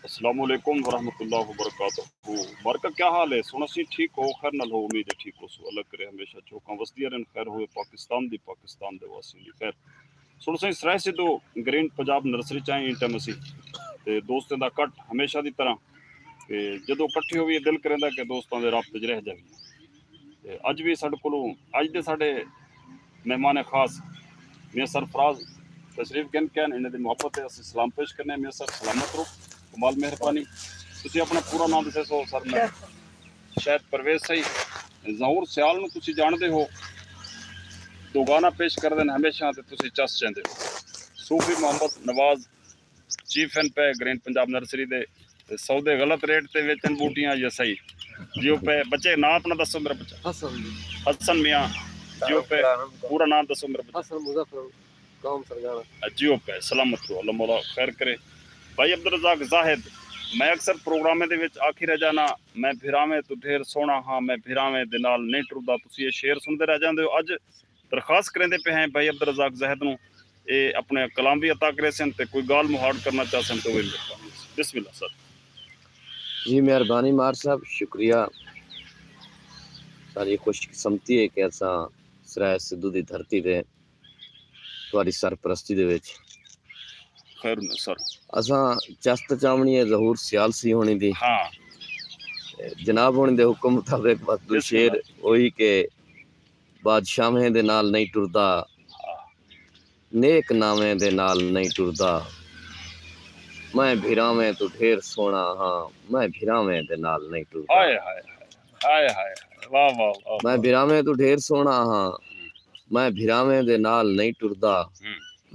السلام علیکم ورحمۃ اللہ وبرکاتہ مرکا کیا حال ہے سونا سی ٹھیک ہو خیر نال ہو امید ہے ٹھیک ہو سو اللہ کرے ہمیشہ چوکاں وسدیاں رہن خیر ہوئے پاکستان دی پاکستان دے واسیوں دی خیر سن سائیں سرائے سے دو گرین پنجاب نرسری چاہیں این ٹائم اسی تے دوستیں دا کٹ ہمیشہ دی طرح تے جدو کٹھی ہوئی دل کریندا کہ دوستاں دے رابطے رہ جاوی تے اج وی ساڈے کولوں اج دے ساڈے مہمان خاص میاں سرفراز تشریف گھن کے ہن انہاں دی محبت تے اساں سلام پیش کرنے میاں سر سلامت رو کمال مہربانی تسی اپنا پورا نام دسے سو سر میں شاید پرویز سہی ظہور سیال نو تسی جان دے ہو دو گانا پیش کر دین ہمیشہ تے تسی چس چیندے ہو صوفی محمد نواز چیف این پے گرین پنجاب نرسری دے سودے غلط ریٹ تے ویچن بوٹیاں یا سہی جیو پے بچے نا اپنا دسو میرا بچہ حسن حسن میاں جیو پے پورا نام دسو میرا بچہ حسن مظفر قوم سرگانا جیو پے سلامت رو اللہ مولا خیر کرے بھائی عبدالرزاق زاہد میں اکثر پروگرامیں دے وچ آکھی رہ جانا میں بھراویں تو ڈھیر سوہنا ہاں میں بھراویں دے نال نہیں ٹردا تسی اے شعر سندے رہ جاندے ہو اج درخواست کریندے پئے ہیں بھائی عبدالرزاق زاہد نوں اے اپنڑا کلام وی عطا کریسن تے کوئی گالھ مہاڑ کرنا چاہسن تے او وی بسم اللہ سر۔ جی مہربانی مار صاحب شکریہ ساڈی خوش قسمتی ہے کہ اساں سرائے سدھو دی دھرتی تے تہاڈی سرپرستی دے وچ خیر میں سر۔ اساں چست چاونڑی ہے ظہور سیال سی ہونی دی ہاں۔ جناب ہونی دے حکم مطابق بس دو شعر اوہی کہ۔ بادشاہیں دے نال نئیں ٹردا۔ نیک ناویں دے نال نئیں ٹردا۔ میں بھراویں توں ڈھیر سوہݨا ہاں۔ میں بھراویں دے نال نئیں ٹردا۔ میں بھراویں توں ڈھیر سوہݨا ہاں۔ میں بھراویں دے نال نئیں ٹردا۔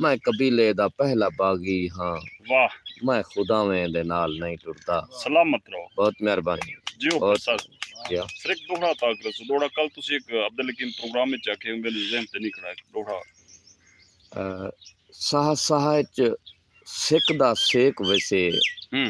میں قبیلے دا پہلا باغی ہاں۔ واہ۔ میں خداویں دے نال نئیں ٹردا۔ سلامت رہو۔ بہت مہربانی۔ جیو پرساد شکریہ۔ سر ہک ڈوہڑا تاں کرسو ڈوہڑا کل تسی ہک عبدالحکیم پروگرام اچ آکھے ہوں میڈے ذہن تے نی کھڑا ہک ڈوہڑا۔ ساہ ساہ اچ سک دا سیک ویسے۔ ہوں۔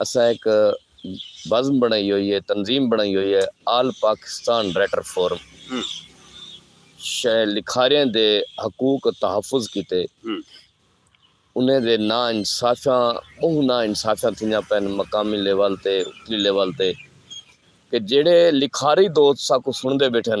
اساں ہک بزم بݨائی ہوئی ہے، تنظیم بݨائی ہوئی ہے آل پاکستان رائٹر فورم شہ لکھاریاں دے حقوق و تحفظ کیتے انہیں دے نا انصافیاں ٻہوں نا انصافیاں تھیندیاں پئن مقامی لیول تے اتلی لیول تے کہ جیڑھے لکھاری دوست ساکوں سݨدے ٻیٹھن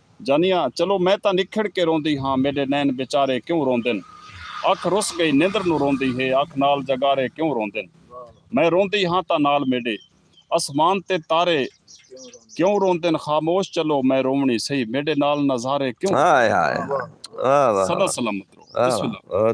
جانیاں چلو میں تاں نکھڑ کے روندی ہاں میڈے نین بیچارے کیوں روندن اکھ رس گئی نندر نوں روندی ہے اکھ نال جگارے کیوں روندن میں روندی ہاں تاں نال میڈے اسمان تے تارے کیوں روندن خاموش چلو میں روونڑی سہی میڈے نال نظارے کیوں روندن سدا سلامت رہو بسم اللہ۔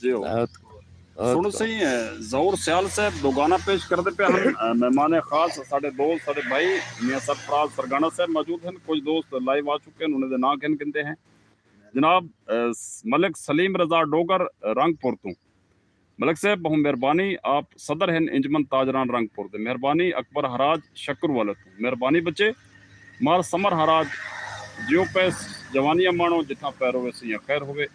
جیو بہت خوب بہت سنڑ خوب سئیں ظہور سیال صاحب دو گانا پیش کردے پئے ہن مہمان خاص اساڈے دوست ساڈے بھائی میاں سرفراز سرگانا صاحب موجود ہن کجھ دوست لائیو آ چکے ہن انہیں دے ناں گھن گھندے ہیں جناب ملک سلیم رضا ڈوگر رنگ پور توں ملک صاحب بہوں مہربانی آپ صدر ہن انجمن تاجران رنگ پور دے مہربانی اکبر ہراج شکر والے توں مہربانی بچے مار سمر ہراج جیو پیس جوانی امانو جتھاں پیرو وے سیاں خیر ہوے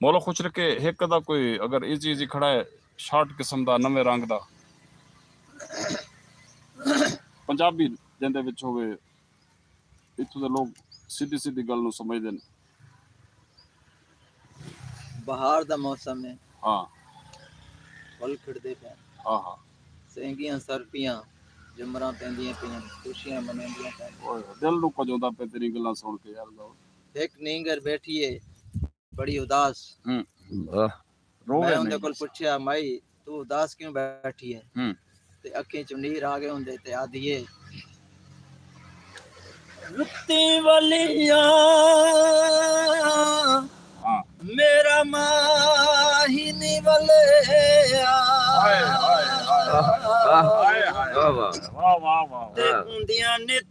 مولا خوش رکھے ہک ادا کوئی اگر ایزی ایزی کھڑا ہے شارٹ قسم دا نویں رنگ دا پنجابی جیندے وچ ہووے اتھوں دے لوگ سیدھی سیدھی گل نو سمجھ دین بہار دا موسم ہے ہاں پھل کھڑدے پین ہاں ہاں سینگیاں سر پیاں جمراں پیندیاں پین خوشیاں منیندیاں پین اوئے ہوئے دل نو کجوندا پے تیری گلاں سن کے یار دا ہک نینگر بیٹھی ہے بڑی اداس۔ میں اوندے کول پچھیا مائی توں اداس کیوں بیٹھی ہے تے اکھیں چوں نیر آ گئے ہوندے تے آدھی ہے۔ رتی ولیاں میرا ماہی نی ولیا تے اوندیاں نت۔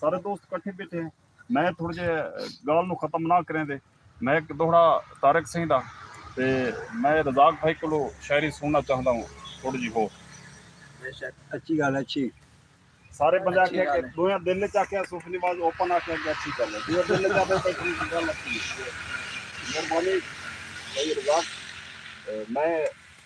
سارے دوست کٹھے بیٹھے ہیں میں تھوڑے جے گال نو ختم نہ کریں دے میں ایک دوہڑا طارق سائیں دا تے میں رزاق بھائی کولو شاعری سننا چاہندا ہوں تھوڑی جی ہو بے شک اچھی گال ہے اچھی سارے بندے آکھیا کہ دویاں دل وچ آکھیا صوف نواز اوپن آکھیا کہ اچھی گال ہے دویاں دل وچ آکھیا کہ اچھی گال ہے مہربانی بھائی رزاق میں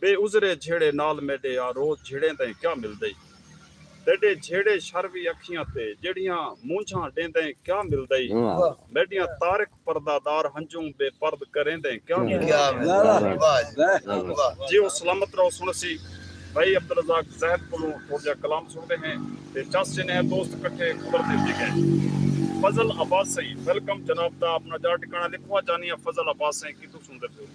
بے عذرے جھیڑے نال میڈے یارو جھیڑیں دئیں کیا ملدئی تیڈے جھیڑے شر وی اکھیاں تے جیڑھیاں مونجھاں ڈیندئیں کیا ملدئی میڈیاں تارک پردہ دار ہنجوں بے پرد کریندئیں کیا ملدئی۔ جیو سلامت رہو سن اسی بھائی عبدالرزاق زاہد کولوں تھوڑ جیا کلام سنڑدے ہیں تے چس جینے ہیں دوست کٹھے خبر دے ڈگے فضل عباس سئیں ویلکم جناب دا اپنا جا ٹکانا لکھوا جانیاں فضل عباس سئیں کیتوں سنڑدے پیو۔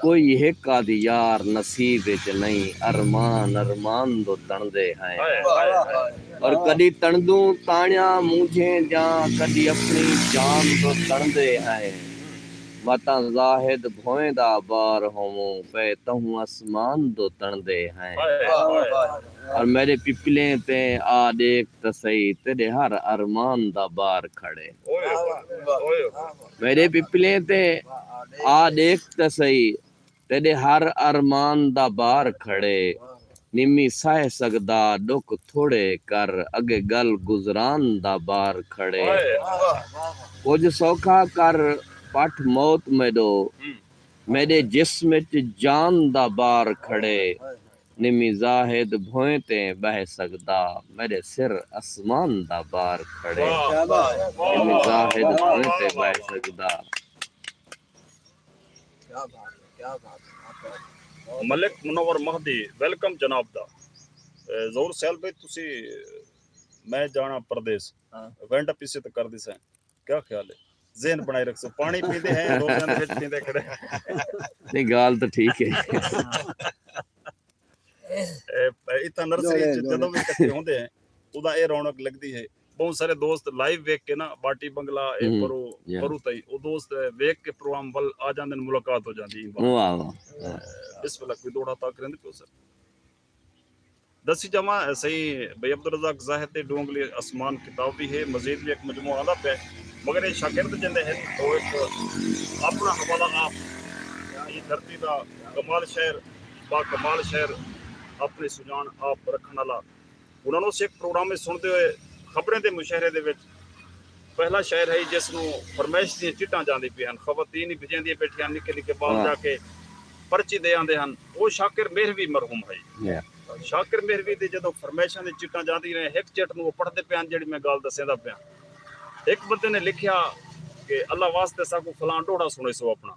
کوئی ہک آدھی یار نصیب اچ نئیں ارمان ارمان دو تݨدے ہئیں اور کݙی تݨدوں تاݨیا مونجھیں جاں کݙی اپݨی جان دو تݨدے ہئیں متاں زاہد بھوئیں دا بار ہوووں پئے تہوں اسمان دو تݨدے ہئیں اور میݙے پپلیں تے آ ݙیکھ تاں سہی تیݙے ہر ارمان دا بار کھڑے۔ میݙے پپلیں تے آ ݙیکھ تاں سہی تیݙے ہر ارمان دا بار کھڑے نمی سہہ سڳدا ݙکھ تھوڑے کر اڳے ڳل گزران دا بار کھڑے کجھ سوکھا کر پٹھ موت میݙو میݙے جسم اچ جان دا بار کھڑے نمی زاہد بھوئیں تے ٻہہ سڳدا میݙے سر اسمان دا بار کھڑے نمی زاہد بھوئیں تے ٻہہ سڳدا۔ ملک منور مہدی ویلکم جناب دا ظہور سہیل بھئی تسی میں جانا پردیس وینڈ اپ اسے تے کر دیسیں۔ کیا خیال ہے ذہن بنائے رکھ سو پانی پیندے ہیں روزے دے وچ پیندے کھڑے نہیں گال تو ٹھیک ہے اتنا نرسری جدوں بھی کٹھے ہوندے ہیں ادا اے رونق لگدی ہے بہت سارے دوست لائیو ویکھ کے نا باٹی بنگلہ اے پرو پرو تائی او دوست ویکھ کے پروگرام ول آ جاندے ملاقات ہو جاندی واہ واہ بسم اللہ کوئی دوڑا تا کرن کو سر ڈسی جاواں سئیں بھئی عبدالرزاق زاہد دی ڈونگلی اسمان کتاب وی ہے مزید وی ہک مجموعہ آندا پئے مگر اے شاگرد جیندے ہن او ہک اپنڑاں حوالہ آپ ایں دھرتی دا کمال شاعر با کمال شاعر اپنڑی سجاݨ آپ رکھنڑ آلا انہاں نو سکھ پروگرام اچ سنڑدے ہوئے خبریں دے مشاہرے دے وچ پہلا شاعر ہئی جس نو فرمائش دیاں چٹاں جاندی پی ہن خواتین ہی بھجیندیاں بیٹھیاں نکے نکے بال جا کے پرچی دے آندے ہن او شاکر مہروی مرحوم ہئی شاکر مہروی دے جدوں فرمائشاں دی چٹاں جاندی رہیں ہک چٹ نو او پڑھدے پے ہن جیڑھی میں گال دسیندا پیاں ہک بندے نے لکھیا کہ اللہ واسطے ساکوں فلاں ڈوہڑا سنڑیسو اپنڑاں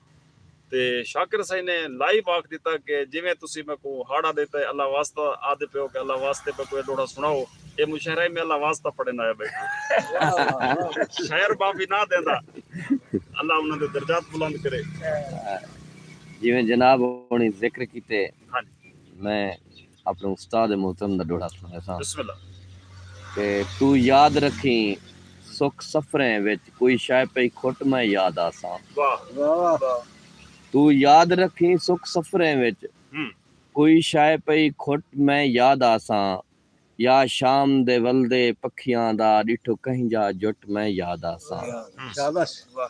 تے شاکر سئیں نے لائیو آکھ ݙتا کہ جیویں تسی میکوں ہاڑا ݙتا ہے اللہ واسطہ آہدے پیو کہ اللہ واسطے میکوں ایہ ݙوہڑا سݨاؤ ایہ مشاعرہ ای میں اللہ واسطہ پڑھن آیا ٻیٹھاں شاعر معافی نہ ݙیندا اللہ انہاں دے درجات بلند کرے۔ جیویں جناب ہوݨی ذکر کیتے میں اپݨے استاد محترم دا ݙوہڑا سݨیساں۔ بسم اللہ۔ تے توں یاد رکھیں سکھ سفریں وچ کوئی شئے پئی کھٹ میں یاد آساں۔ واہ۔ توں یاد رکھیں سکھ سفریں وچ کوئی شئے پئی کھٹ میں یاد آساں یا شام دے ولدے پکھیاں دا ݙٹھو کہنجا جٹ میں یاد آساں۔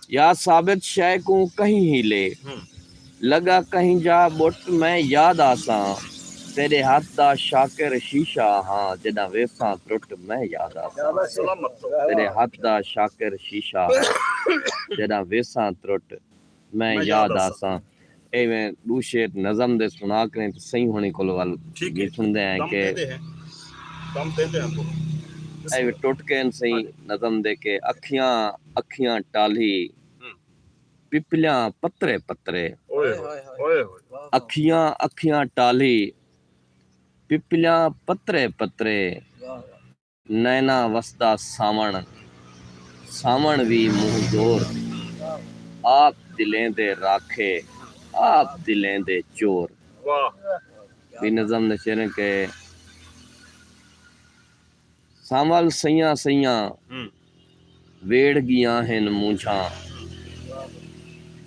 یا ثابت شئے کوں کہیں ہیلے لگا کہیں جا ٻٹ میں یاد آساں تیݙے ہتھ دا شاکر شیشہ ہاں جݙاں ویساں ٹٹ میں یاد آساں تیݙے ہتھ دا شاکر شیشہ ہاں جݙاں ویساں ترٹ میں یاد آساں۔ ایویں ݙو شعر نظم دے سݨا کریں تے سئیں ہوݨیں کولوں ول وی سݨدے ہیں کہ ایویں ٹٹ کئن سئیں نظم دے کہ اکھیاں اکھیاں ٹالھی۔ پپلیاں پترے پترے۔ اکھیاں اکھیاں ٹالی۔ پپلیاں پترے پترے۔ نیناں وسدا ساوݨ۔ ساوݨ وی منہ زور۔ آپ دلیں دے راکھے۔ آپ دلیں دے چور۔ وی نظم نے شعریں کے۔ سانول سئیاں سئیاں ویڑھ ڳیاں ہن مونجھاں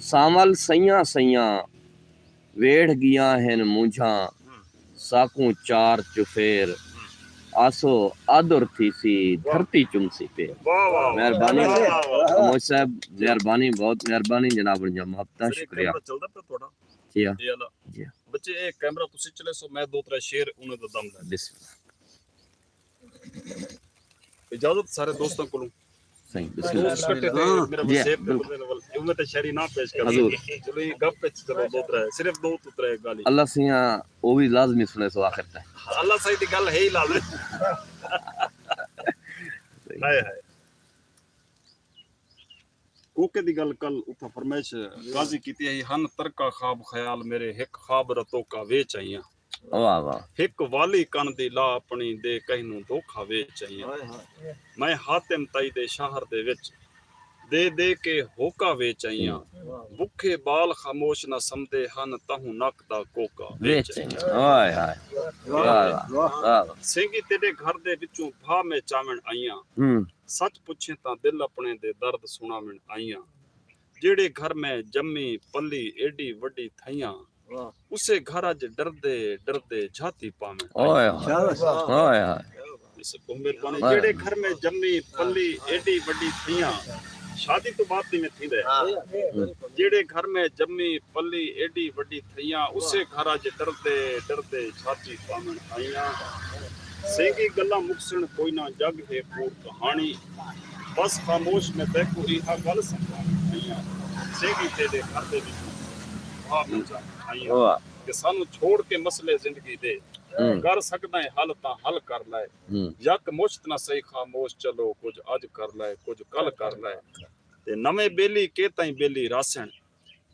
سانول سئیاں سئیاں ویڑھ ڳیاں ہن مونجھاں ساکوں چار چفیر آسو آدر تھیسی دھرتی چمسی پیر مہربانی خاموش صاحب مہربانی بہت مہربانی جناب انجا محبتاں شکریہ جی ہاں جی ہاں بسم اللہ اجازت سارے دوستوں کو اللہ سیاں او بھی لازمی سنے سو آخر تک اللہ سائی دی گل ہے ہی لازمی ہائے ہائے کوکے دی گل کل اتھا فرمائش قاضی کیتی ہے ہن ترکا خواب خیال میرے ہک خواب رتوکا وے چاہیاں واہ واہ۔ ہک والی کن دی لا اپنی دے کہنوں دھوکھا وے چہین میں حاتم تائی دے شہر دے وچ دے دے کے ہوکا وے چہیاں بکھے بال خاموش نہ سمدے ہن تہوں نک دا کوکا وے چہیاں سینگی تیڈے گھر دے وچوں بھا میں چاون آئیاں سچ پچھیں تاں دل اپنے دے درد سناون آئیاں جیڑھے گھر میں جمی پلی ایڈی وڈی تھئیاں اسے گھر اچ ڈردے ڈردے جھاتی پاوݨ آئی۔ جیڑھے گھر میں جمی پلی ایڈی وڈی تھئیاں شادی توں بعد کیویں تھیندے جیڑھے گھر میں جمی پلی ایڈی وڈی تھئیاں اسے گھر اچ ڈردے ڈردے جھاتی پاوݨ آئیاں سینگی گلاں مکسݨ کوئناں جگ ہے پور کہاݨی۔ بس خاموش میں تیکوں ایہا گل سمجھاوݨ آئیاں جیہڑی تیڈے گھر دے وچوں بھا بھنجاوݨ آئیاں کہ سانوں چھوڑ کے مسئلے زندگی دے کر سگدائیں حل تاں حل کر لائے یک مشت نہ سہی خاموش چلو کجھ اج کر لائے کجھ کل کر لائے تے نویں بیلی کیتائیں بیلی رہسن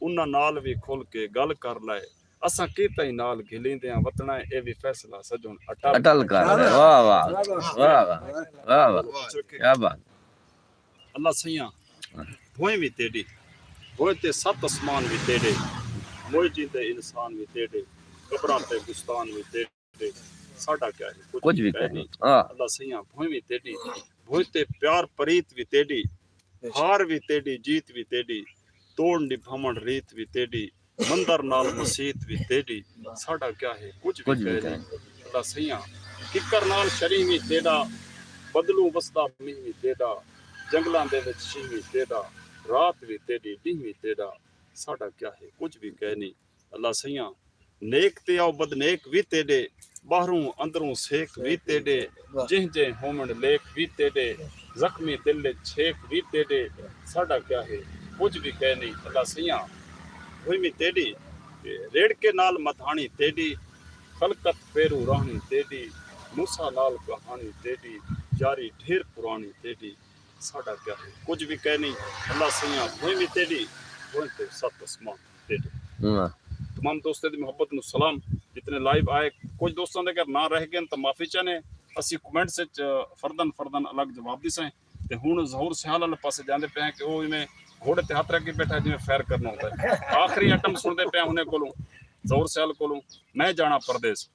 انہاں نال وی کھل کے گل کر لائے اساں کیتائیں نال گھلیندیاں وتنائیں اے وی فیصلہ سجن اٹل اللہ سئیاں بھوئیں وی تیڈی بھوئیں تے ست اسمان وی تیڈے موئے جیندے انسان وی تیڈے قبراں تے بستان وی تیڈے۔ ساڈا کیا ہے کچھ بھی کہہ نہیں اللہ سیاں بھویں بھی تیڈی بھویں تے پیار پریت بھی تیڈی ہار بھی تیڈی جیت بھی تیڈی توڑ نہیں بھمن ریت بھی تیڈی مندر نال مسیت بھی تیڈی ساڈا کیا ہے کچھ بھی کہہ نہیں اللہ سیاں ککر نال شری بھی تیڈا بدلوں وسدا می بھی تیڈا جنگلاں دے وچ شی بھی تیڈا رات بھی تیڈی ڈی بھی تیڈا ساڈا کیا ہے کچھ بھی کہہ نہیں اللہ سئیاں نیک تے او بد نیک وی تیڈے ٻاہروں اندروں سیک وی تیڈے جہیں جہیں ہوون لیک وی تیڈے زخمی دل اچ چھیک وی تیڈے ساڈا کیا ہے کجھ وی کئے نئیں اللہ سئیاں بھوئمی تیڈی ریڑکے نال مدھاݨی تیڈی خلقت پیروں راہݨی تیڈی موسی نال کہاݨی تیڈی یاری ڈھیر پراݨی تیڈی ساڈا کیا ہے کجھ وی کئے نئیں اللہ سئیاں بھوئمی تیڈی بھوئیں تے ست اسمان۔ ڈیٹے۔ تمام دوستاں دی محبت نو سلام۔ جتنے لائیو آئے کجھ دوستاں دے اگر ناں رہ گن تاں معافی چاہنے اسیں کمنٹس اچ فردن فردن الگ جواب دیسائیں تے ہن ظہور سیال آلے پاسے جاندے پئے ہیں کہ او ایویں گھوڑے تے ہتھ رکھ کے بیٹھا ہے جیویں فیر کرنا ہوندا ہے آخری ایٹم سنڑدے پئے ہیں انہیں کولوں ظہور سیال کولوں میں جانا پردیس۔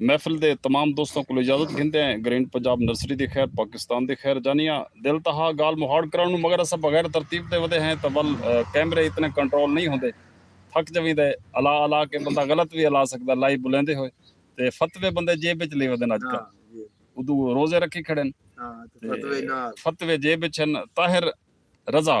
محفل دے تمام دوستاں کولوں اجازت گھندے ہیں گرینڈ پنجاب نرسری دی خیر پاکستان دی خیر جانیاں دل تاں ہا گالھ مہاڑ کرݨ نوں مگر اساں بغیر ترتیب دے ودے ہیں تاں ول کیمرے اتنے کنٹرول نئیں ہوندے تھک جویندے ہے الا الا کے بندہ غلط وی الا سکدا لائی بلیندے ہوئے تے فتوے بندے جیب وچ لئی ودن اج کل ادو روزے رکھی کھڑن تے فتوے جیب وچ ہن طاہر رضا۔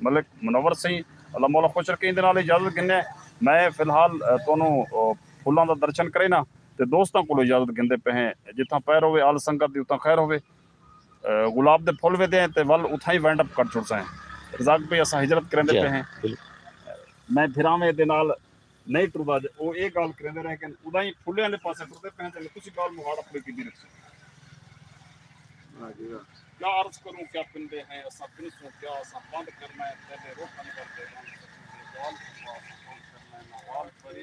ملک منور سئیں اللہ مولا خوش رکھیں دے نال اجازت گھننے میں فی الحال تہانوں پھلاں دا درشن کرینا تے دوستاں کولوں اجازت گھندے پئے ہیں جتھاں پیر ہووے آل سنگت دی اتھاں خیر ہووے گلاب دے پھل ویندے ہیں تے ول اتھائیں وائنڈ اپ کر چھوڑساں ہیں رزاق بھئی اساں ہجرت کریندے پئے ہیں میں بھراویں دے نال نئیں ٹردا جے او اے گالھ کریندے رہ گن ادائیں پھلیاں دے پاسے ٹردے پئے جے تسی گالھ مہاڑ اپڑی کیتی رکھسو کیا عرض کروں کیا پندے ہیں اساں پنسوں کیا اساں بند کرنا ہے تیڈے روکن کر دے ون سچو دے گالھ دے پاس بند کرنا ہے نہ حال پری